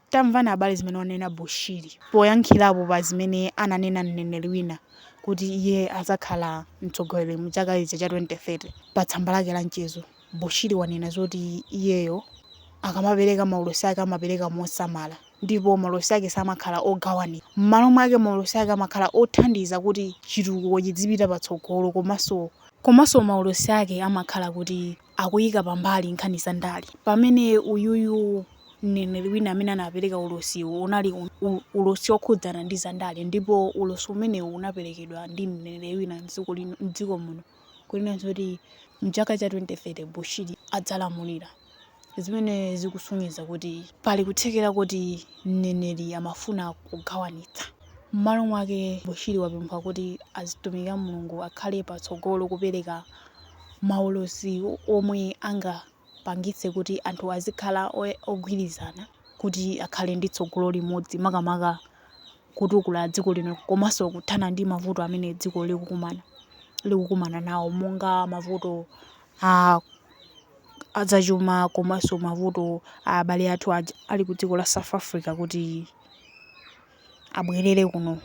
Tamvani abale zimene wanena Bushiri poyankhirapo pa zimene ananena mneneri wina kuti iye azakhala mtsogoleri mu chaka ichi cha 2030. Pa tsamba lake la mchezo Bushiri wanena zoti iyeyo akamapereka maulosi ake amapereka mosamala ndipo maulosi ake samakhala ogawanitsa mmalo mwake maulosi ake amakhala othandiza kuti chitukuko chidzipita patsogolo komanso komanso maulosi ake amakhala kuti akuyika pambali nkhani za ndale pamene uyuyu mneneri wina amene anapereka ulosiwu unali ulosi okhudzana ndi za ndale ndipo ulosi umenewu unaperekedwa ndi mneneri wina mdziko muno kunena zoti mchaka cha 2030 Bushiri adzalamulira zimene zikusonyeza kuti pali kuthekera kuti mneneri amafuna kugawanitsa. M'malo mwake Bushiri wapempha kuti azitumiki a Mulungu akhale patsogolo kupereka maulosi omwe angapangitse kuti anthu azikhala ogwirizana kuti akhale ndi tsogolo limodzi makamaka kutukula dziko lino komanso kuthana ndi mavuto amene dziko likukumana nawo monga mavuto adzachuma komanso mavuto a abale athu ali ku dziko la South Africa kuti abwerere kuno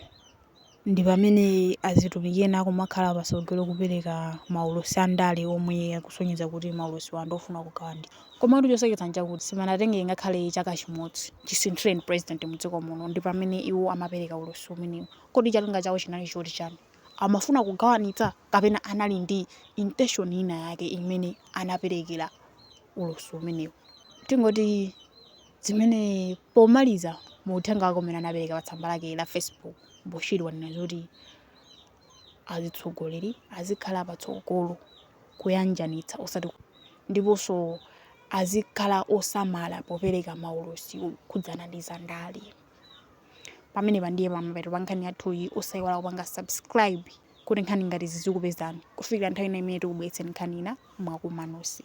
ndi pamene azitumiki ena akumakhala patsogolo kupereka maulosi a ndale omwe akusonyeza kuti maulosiwa ndi ofuna kugawanitsa. Komatu choseketsa nchakuti sipanatenge ngakhale chaka chimodzi chisinthireni president mu dziko muno ndi pamene iwo amapereka ulosi umenewu. Kodi cholinga chawo chinali choti chani? Amafuna kugawanitsa? Kapena anali ndi intention ina yake imene anaperekera ulosi umenewu? Tingoti. Zimene pomaliza mu uthenga wake umene anapereka pa tsamba lake la Facebook, Bushiri wanena zoti azitsogoleri azikhala patsogolo kuyanjanitsa osati ndiponso azikhala osamala popereka maulosi okhudzana ndi zandale. Pamenepa ndiye pamapeto pa nkhani yathuyi, osayiwala kupanga subscribe kuti nkhani ngati izi zizikupezani kufikira nthawi ina imene tikubweretseni nkhani ina mwakumanosi.